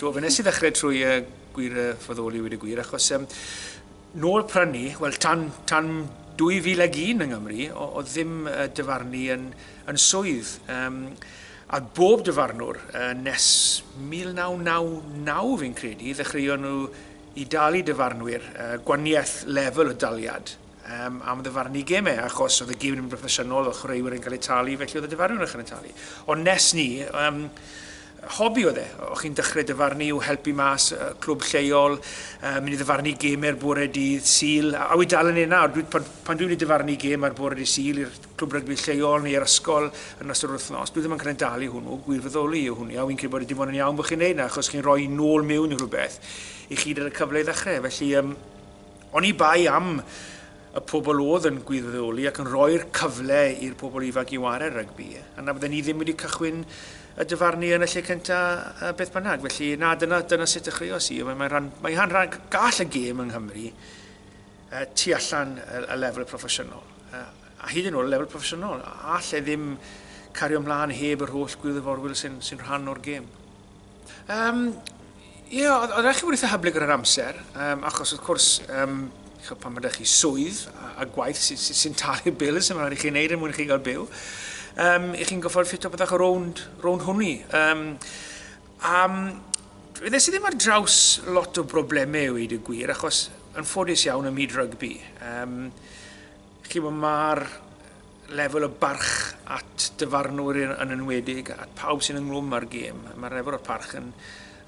Do, fe nes i ddechrau trwy uh, gwir uh, foddoli wedi gwir, achos um, nôl prynu, wel tan, tan 2001 yng Nghymru, o, o ddim uh, dyfarnu yn, yn swydd. Um, a bob dyfarnwr uh, nes 1999 fi'n credu, ddechreuon nhw i dalu dyfarnwyr uh, gwaniaeth lefel o daliad Yym, am ddyfarnu gemau, achos oedd y gêm yn mynd broffesiynol, oedd chwaraewyr yn cael eu talu, felly oedd y dyfarnwr yn cael eu talu. Ond nes ni, um, hobi oedd e. O'ch chi'n dechrau dyfarnu i'w helpu mas, uh, clwb lleol, uh, mynd i ddyfarnu gemau'r bore dydd Sil, a, a wy dal yn ei nawr. Dwi, pan, pan dwi'n mynd i dyfarnu gem ar bore dydd Sil i'r clwb rygbi lleol neu i'r ysgol yn ystod yr wythnos, dwi ddim yn cael ei dalu hwnnw, gwirfoddoli yw hwnnw, a wy'n credu bod e dim ond yn iawn bod chi'n neud na, achos chi'n rhoi nôl mewn i rhywbeth i chi gyda'r cyfle i ddechrau. Felly, um, Oni bai am y pobl oedd yn gwyddoli ac yn rhoi'r cyfle i'r pobl ifanc i ware rygbi, yna fydden ni ddim wedi cychwyn y dyfarnu yn y lle cyntaf beth bynnag. Felly, na, dyna, dyna sut dechreuos i. Mae'n rhan, mae rhan, rhan gall y gêm yng Nghymru uh, tu allan y, y lefel proffesiynol. Uh, a hyd yn oed y lefel proffesiynol, all e ddim cario ymlaen heb yr holl gwirfoddolwyr sy'n sy rhan o'r gêm. Um, Ie, yeah, oedd eich wedi hyblyg ar yr amser, um, achos wrth gwrs, um, pan mae chi swydd a, a gwaith sy'n sy, sy talu bil, sy'n rhaid i chi'n neud er mwyn chi gael byw, um, i chi'n goffael ffito byddwch ar rownd, rownd hwni. Um, um, Ddes i ddim ar draws lot o broblemau i wedi gwir, achos yn ffodus iawn ym myd rygbi. Um, Chi wybod, mae'r lefel o barch at dyfarnwr yn enwedig, at pawb sy'n ynglwm â'r gêm, mae'r lefel o parch yn,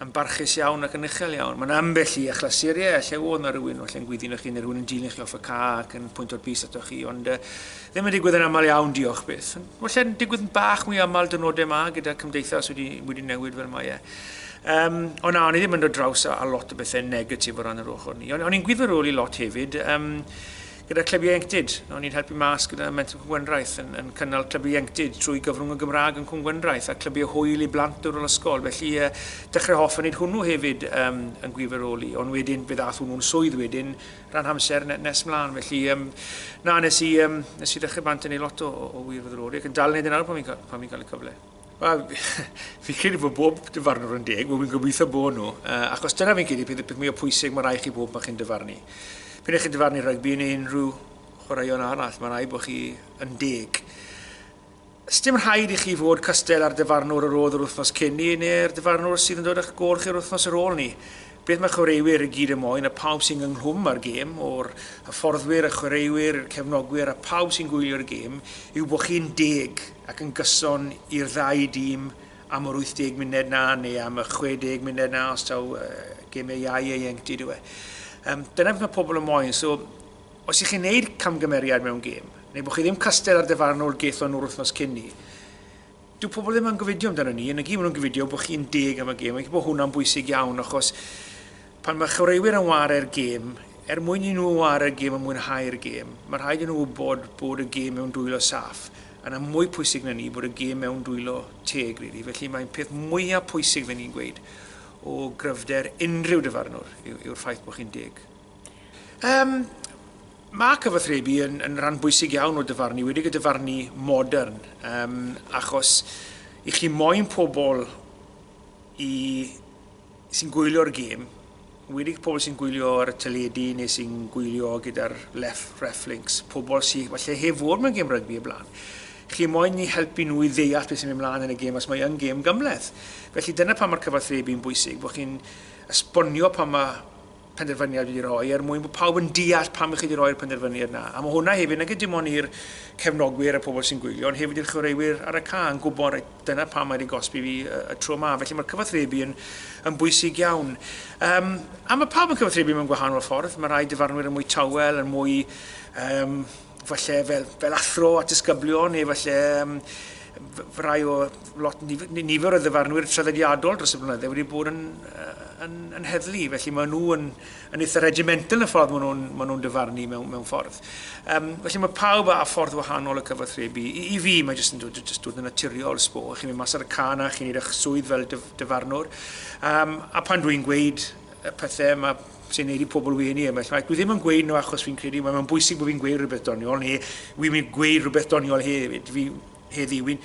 yn barchus iawn ac yn uchel iawn. Mae'n ambell i achlysuriau, lle oedd na rhywun falle yn gwyddino chi neu rhywun yn dilyn chi off y ca ac yn pwynt o'r bus ato chi, ond uh, ddim yn digwydd yn aml iawn, diolch byth. Felly'n digwydd yn bach mwy aml dynodau yma gyda cymdeithas wedi, wedi newid fel mae e. Um, o na, o'n i ddim yn dod draws a, a lot o bethau negatif o ran yr ochr ni. O'n, o'n i'n gwybod rôl i lot hefyd. Um, Gyda Clyb Ieuenctid, o'n i'n helpu mas gyda Mentrau Cwm Gwendraeth, yn, yn cynnal Clyb Ieuenctid trwy gyfrwng y Gymraeg yn Cwm Gwendraeth, a clybiau hwyl i blant yr ysgol, felly yy dechrau hoff yn neud hwnnw hefyd yym yn gwirfoddoli, ond wedyn fe ddath hwnnw'n swydd wedyn ran hamser ne- nes mlan, felly yym na nes i yym nes i ddechrau bant yn neud lot o o o wirfoddoli ac yn dal yn neud e nawr pan fi'n ca- pan fi'n cael y cyfle. Wel, fi'n credu bod bob dyfarnwr yn deg, wel fi'n gobeithio bod nhw, uh, achos dyna fi'n credu peth, peth mwy o pwysig mae rai chi bob mae chi'n dyfarnu. Pyn eich chi'n dyfarnu rygbi yn unrhyw chwaraeon arall, mae rai bod chi yn deg. Sdim rhaid i chi fod cystel ar dyfarnwr yr oedd yr wythnos cyn ni neu'r dyfarnwr sydd yn dod â'ch gol chi'r wythnos ar ôl ni. Beth mae chwaraewyr i gyd yn moyn a phawb sy'n ynghlwm â'r gêm, o'r hyfforddwyr, y chwaraewyr, i'r cefnogwyr a phawb sy'n gwylio'r gêm, yw bod chi'n deg ac yn gyson i'r ddau dîm am yr 80 munud 'na neu am y 60 munud 'na os taw gêmiau iau ieuenctid yw e. Yym, dyna beth mae pobl yn moyn. So, os y'ch chi'n neud camgymeriad mewn gêm, neu bod chi ddim castell ar dyfarnwr gaethon nhw'r wythnos cyn 'ny, Dyw pobl ddim yn gofidio amdano ni, yn y gêm maen nhw'n gofidio bod chi'n deg am y gêm, felly bod hwnna'n bwysig iawn achos pan mae chwaraewyr yn ware'r gêm, er mwyn i nhw ware'r gêm a mwynhau'r gêm, mae rhaid i nhw wybod bod y gêm mewn dwylo saff, a na mwy pwysig na ni bod y gêm mewn dwylo teg rili, felly mae'n peth mwyaf pwysig fe ni'n gweud o gryfder unrhyw dyfarnwr yw'r ffaith bod chi'n deg. Yym, mae cyfathrebu yn, yn rhan bwysig iawn o dyfarnu, wedi gyda farnu modern, um, achos i chi moyn pobl i sy'n gwylio'r gêm, wedi pobl sy'n gwylio ar y teledu neu sy'n gwylio gyda'r left reflinks, pobl sy'n falle heb fod mewn gêm rygbi y blaen. Chi moyn i helpu nhw i ddeall beth sy'n mynd mlaen yn y gêm os mae yn gêm gymleth. Felly dyna pan mae'r cyfathrebu yn bwysig, bod chi'n esbonio pan mae penderfyniad wedi rhoi er mwyn bod pawb yn deall pam ych chi wedi rhoi'r penderfyniad yna. A mae hwnna hefyd, nag ydy dim ond i'r cefnogwyr a pobl sy'n gwylio, ond hefyd i'r chwaraewyr ar y ca yn gwybod, reit, dyna pam mae wedi gosbi fi y, y tro yma. Felly mae'r cyfathrebu yn, yn bwysig iawn. Um, a mae pawb yn cyfathrebu mewn gwahanol ffordd. Mae rhai dyfarnwyr yn mwy tawel, yn mwy um, falle fel, fel athro a disgyblion neu falle um, rai o lot nifer o ddyfarnwyr traddodiadol dros y blynydde wedi bod yn, yn, yn heddlu, felly maen nhw yn, yn eitha regimental y ffordd maen nhw'n ma nhw dyfarnu mewn, mewn ffordd. Um, felly mae pawb â ffordd wahanol y cyfathrebu. I, i fi mae jyst yn dod, jyst dod yn naturiol sbo, chi'n mynd mas ar y can a chi'n neud eich swydd fel dyfarnwr. Um, a pan dwi'n gweud y pethau, mae sy'n gwneud i pobl wenu e, mae llai. Dwi ddim yn gweud nhw achos fi'n credu mae'n bwysig bod fi'n gweud rhywbeth doniol, neu wi'n mynd gweud rhywbeth doniol hefyd, fi heddi. Wi'n,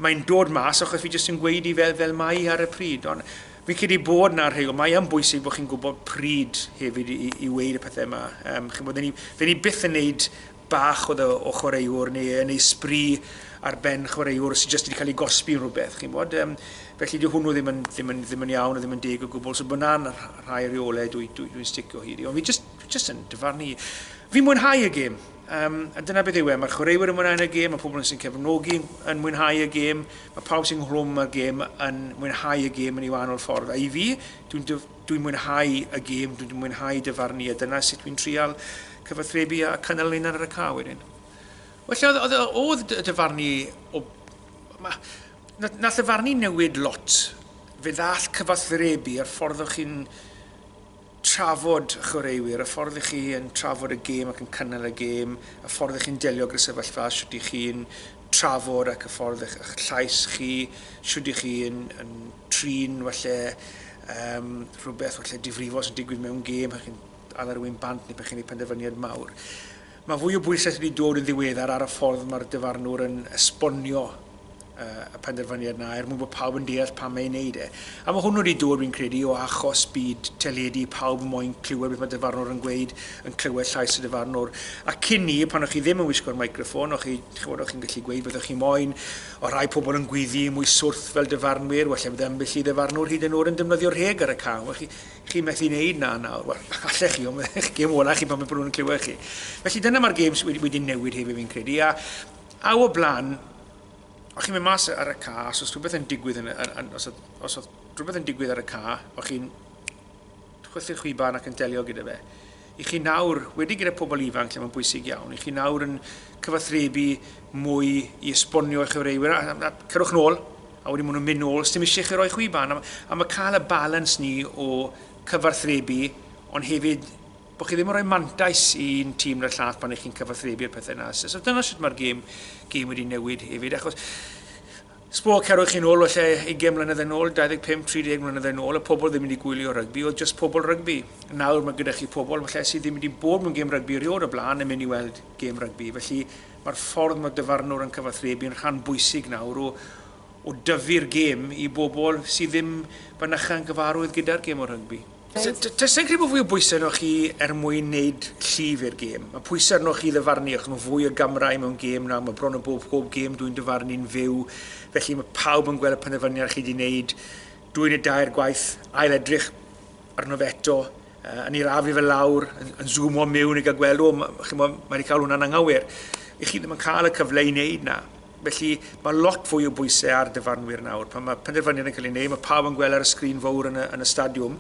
mae'n dod mas achos fi jyst yn gweud i fel, fel mae ar y pryd. Ond fi'n credu bod na rhywun, mae yn bwysig bod chi'n gwybod pryd hefyd i, i, i weud y pethau yma. Um, chi'n bod, ni, fe ni byth yn neud bach oedd o o chwaraewr neu yn ei sbri ar ben chwaraewr sydd jyst wedi cael ei gosbi yn rhywbeth, chi'n bod. Um, felly dyw hwnnw ddim yn, ddim, yn, ddim yn iawn, ddim yn deg o gwbl, so bod na'n rhai rheolau dwi'n dwi, dwi sticio hyd i. Ond fi jyst, fi jyst yn dyfarnu i. Fi'n mwynhau y gêm, um, a dyna beth yw e. Mae'r chwaraewyr yn mwynhau y gêm, mae pobl sy'n cefnogi yn mwynhau y gêm, mae pawb sy'n nghlwm y gêm yn mwynhau y gêm yn ei wahanol ffordd. A i fi, dwi'n Dwi'n mwynhau y gêm, dwi'n mwynhau dyfarnu a dyna sut dwi'n trial cyfathrebu a cynnal ninan ar y ca wedyn. Wel lle oedd, oedd, oedd y dyfarnu o... Ma, na, nath dyfarnu newid lot. Fe ddall cyfathrebu a'r ffordd o'ch chi'n trafod y chwaraewyr, y ffordd ych chi yn trafod y gêm ac yn cynnal y gêm, y ffordd ych chi'n delio gyda sefyllfa, sut ych chi'n trafod ac y ffordd eich, eich llais chi, shwd ych chi yn, yn trin falle um, rhywbeth falle difrifol sy'n digwydd mewn gêm, pan chi'n ala rhywun bant neu pan chi'n ei penderfyniad mawr. Mae fwy o bwysau wedi dod yn ddiweddar ar y ffordd mae'r dyfarnwr yn esbonio uh, y penderfyniad yna er mwyn bod pawb yn deall pam mae'n neud e. A mae hwnnw wedi dod, fi'n credu, o achos byd teledu, pawb moyn clywed beth mae dyfarnwr yn gweud, yn clywed llais y dyfarnwr. A cyn 'ny, pan o'ch chi ddim yn wisgo'r microffon, o'ch chi, chi'n gwybod, o'ch chi'n gallu gweud beth o'ch chi moyn. O' rhai pobl yn gwyddu mwy swrth fel dyfarnwyr, wella bydd ambell i ddyfarnwr hyd yn o'd yn defnyddio rheg ar y cam. Wel, chi, chi methu wneud 'na nawr. Wel, allech chi, ond mae'ch gêm ola chi pan mae pobl yn clywed chi. Felly dyna mae'r gêm sydd wedi, wedi newid hefyd fi'n credu. A, a o blaen, o'ch chi'n mynd mas ar y ca, os oedd rhywbeth yn digwydd, yn, yn, yn, os oedd, os oedd rhywbeth yn digwydd ar y ca, o'ch chi'n chwythu'r chwiban ac yn delio gyda fe. I chi nawr, wedi gyda pobl ifanc lle mae'n bwysig iawn, i chi nawr yn cyfathrebu mwy i esbonio i chyfreiwyr, a, a, a cyrwch nôl, a wedi maen nhw'n mynd nôl, sdim eisiau chi roi chwiban. A, a mae cael y balans ni o cyfathrebu, ond hefyd bod chi ddim yn rhoi mantais i'n tîm na'r llath pan ych chi'n cyfathrebu'r pethau yna. So, so dyna sut mae'r gêm, gêm wedi newid hefyd, achos Sbwr, cerwch chi'n ôl falle ugain mlynedd yn ôl, 25, 30 mlynedd yn ôl, oedd pobl ddim wedi gwylio rygbi, oedd jyst pobl rygbi. Nawr mae gyda chi pobl falle sydd ddim wedi bod mewn gêm rygbi erioed o blaen yn mynd i weld gêm rygbi. Felly mae'r ffordd mae dyfarnwr yn cyfathrebu'n rhan bwysig nawr o o dyfu'r gêm i bobl sydd ddim fynycha yn gyfarwydd gyda'r gêm o rygbi. Does dim crebu fwy o bwysau arnoch chi er mwyn neud llif i'r gêm. Mae pwysau arnoch chi i ddyfarnu achos mae fwy o gamrau mewn gêm nawr, mae bron o bob pob gêm dwi'n dyfarnu'n fyw, felly mae pawb yn gweld y penderfyniad chi 'di neud, dwy neu dair gwaith, ail edrych arno fe eto, yn ei rafu fe lawr, yn zoomo miwn i gael gweld, o, chimo, mae wedi cael hwnna'n anghywir. I chi ddim yn cael y cyfle i neud 'na. Felly, mae lot fwy o bwysau ar dyfarnwyr nawr. Pan mae penderfyniad yn cael ei wneud, mae pawb yn gweld ar y sgrin fawr yn y, yn y stadiwm.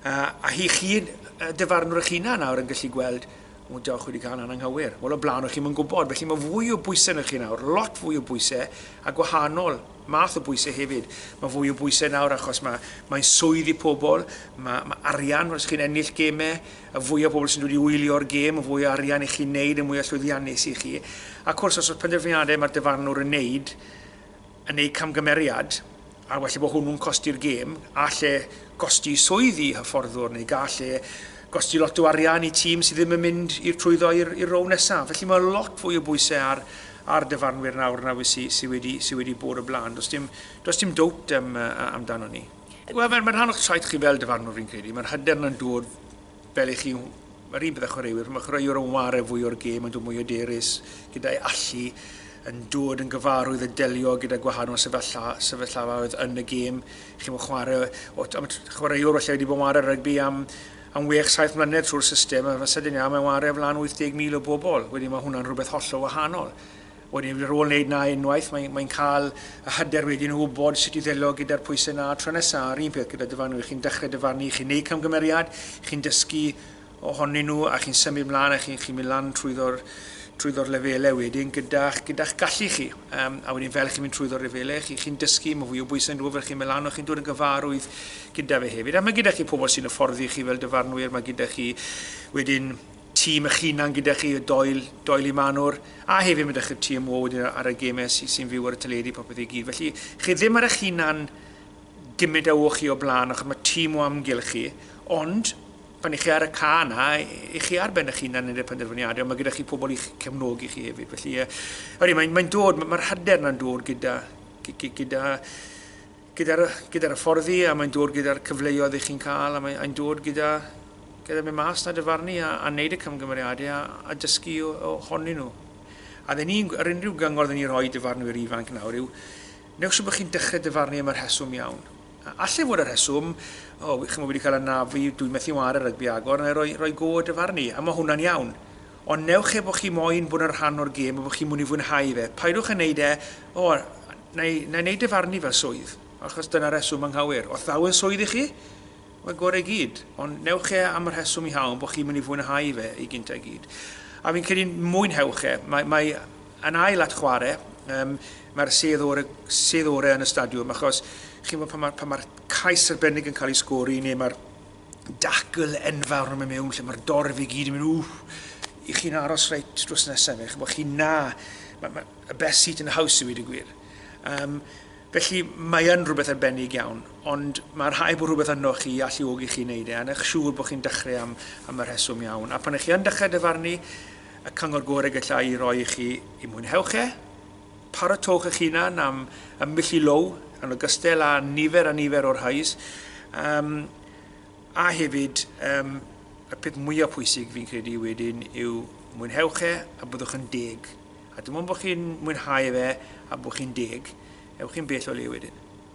Uh, a hi chi, uh, dyfarnwr eich hunan nawr yn gallu gweld, o, dewch wedi cael ananghywir. Wel, o blaen o'ch chi'n gwybod. Felly mae fwy o bwysau yn chi nawr, lot fwy o bwysau, a gwahanol math o bwysau hefyd. Mae fwy o bwysau nawr achos mae, mae'n swydd i pobl, mae, mae arian, os chi'n ennill gemau, Y fwy o bobl sy'n dod i wylio'r gêm, y fwy o arian i chi wneud, y mwy o llwyddiannus i chi. Ac wrth gwrs, os oes penderfyniadau mae'r dyfarnwr yn wneud, yn eu camgymeriad, a well bod hwnnw'n costi'r gêm, a lle gosti swydd i hyfforddwr, neu gall lle gosti lot o arian i tîm sydd ddim yn mynd i'r trwyddo i'r rownd nesaf. Felly mae lot fwy o bwysau ar, ar dyfarnwyr nawr nag sydd sy wedi, sy wedi bod o blaen. Does dim, does dim dowt um, amdano ni. Wel, mae'n ma rhan o'ch traeth chi fel dyfarnwr fi'n credu. Mae'r hyder yna'n dod fel i chi, mae'r un bydda chwaraewyr, mae chwaraewyr yn ware fwy o'r gêm, yn dod mwy o derus, gyda'i allu, yn dod yn gyfarwydd yn delio gyda gwahanol sefyllfa, sefyllfaoedd yn y gêm. Chi'n fawr chwarae, o, chwaraewr felly wedi bod yn ware rygbi am am wech, saith mlynedd trwy'r system, a fe sydyn iawn mae'n ware o flan 80,000 o bobl. Wedi mae hwnna'n rhywbeth hollol wahanol. Wedyn ar ôl wneud 'na unwaith mae'n mae'n cael y hyder wedyn o wybod sut i ddelio gyda'r pwysau 'na tro nesa'. A'r un peth gyda dyfarnwr, chi'n dechrau dyfarnu, chi'n neud camgymeriad, chi'n dysgu ohonyn nhw a chi'n symud mlan a chi'n chi'n mynd lan trwyddo'r trwyddo'r lefele wedyn gyda'ch gyda'ch gallu chi. Yym a wedyn fel chi'n mynd trwyddo'r lefele chi chi'n dysgu ma' fwy o bwysau'n dod fel chi'n mynd lan a chi'n dod yn gyfarwydd gyda fe hefyd. A ma' gyda chi pobl sy'n hyfforddi chi fel dyfarnwyr, ma' gyda chi wedyn tîm eich hunan gyda chi, y Doyle, Doyle i Manor, a hefyd mae 'da chi'r tîm wo wedyn ar y gemau sy, sy'n fyw ar y teledu a popeth i gyd. Felly, chi ddim ar eich hunan gymryd a wo chi o blaen, achos mae tîm o amgylch chi, ond pan i chi ar y ca yna, i chi ar ben eich hunan yn y penderfyniadau, ond mae gyda chi pobl i'ch cefnogi chi hefyd. Felly, uh, mae'n mae dod, mae'r hyder yna'n dod gyda, gyda Gyda'r gyda'r hyfforddi a mae'n dod gyda'r cyfleoedd i chi'n cael a mae'n dod gyda gyda mynd mas na dyfarnu a a wneud y camgymeriadau a a dysgu o o honyn nhw. A dde ni yr unrhyw gyngor dde ni rhoi dyfarnwyr ifanc nawr yw newch siŵr bod chi'n dechrau dyfarnu am y rheswm iawn. A allai fod y rheswm o chi'n bod wedi cael anafu dwi'n methu ware rygbi agor neu roi roi go dyfarnu a mae hwnna'n iawn. Ond newch e bod chi moyn bod yn rhan o'r gêm a bod chi'n mynd i fwynhau fe. Paidwch yn wneud e o Neu, neu'n ei dyfarnu fel swydd, achos dyna reswm anghywir. Os ddaw yn swydd i chi, mae gore i gyd, ond newch e am y rheswm iawn bod chi'n mynd i fwynhau fe ei gynta i gyd. A fi'n credu mwynhewch e. Mae, mae yn ail at chwarae, um, mae'r sedd ore, sedd ore yn y stadiwm, achos chi'n fawr pan mae'r pa ma cais arbennig yn cael ei sgori, neu mae'r dacl enfawr yn mynd mewn, lle mae'r dorf i gyd yn mynd, ww, i chi'n aros reit drws nesaf fe, chi'n bod chi'n na, mae, mae, a best seat in the house i wedi gwir. Um, felly mae yn rhywbeth arbennig iawn, ond mae rhai bod rhywbeth yno chi i alluogi chi wneud e, a eich siŵr bod chi'n dechrau am, am y rheswm iawn. A pan ych chi yn dechrau dyfarnu, y cyngor gorau gallai i roi i chi i mwynhewch e, paratowch eich hunan am y milli low, yn ogystal â nifer a nifer o'r hais, um, a hefyd um, y peth mwyaf pwysig fi'n credu wedyn yw mwynhewch e a byddwch yn deg A dim ond bod chi'n mwynhau fe a bod chi'n deg, ewch chi'n bell o le wedyn.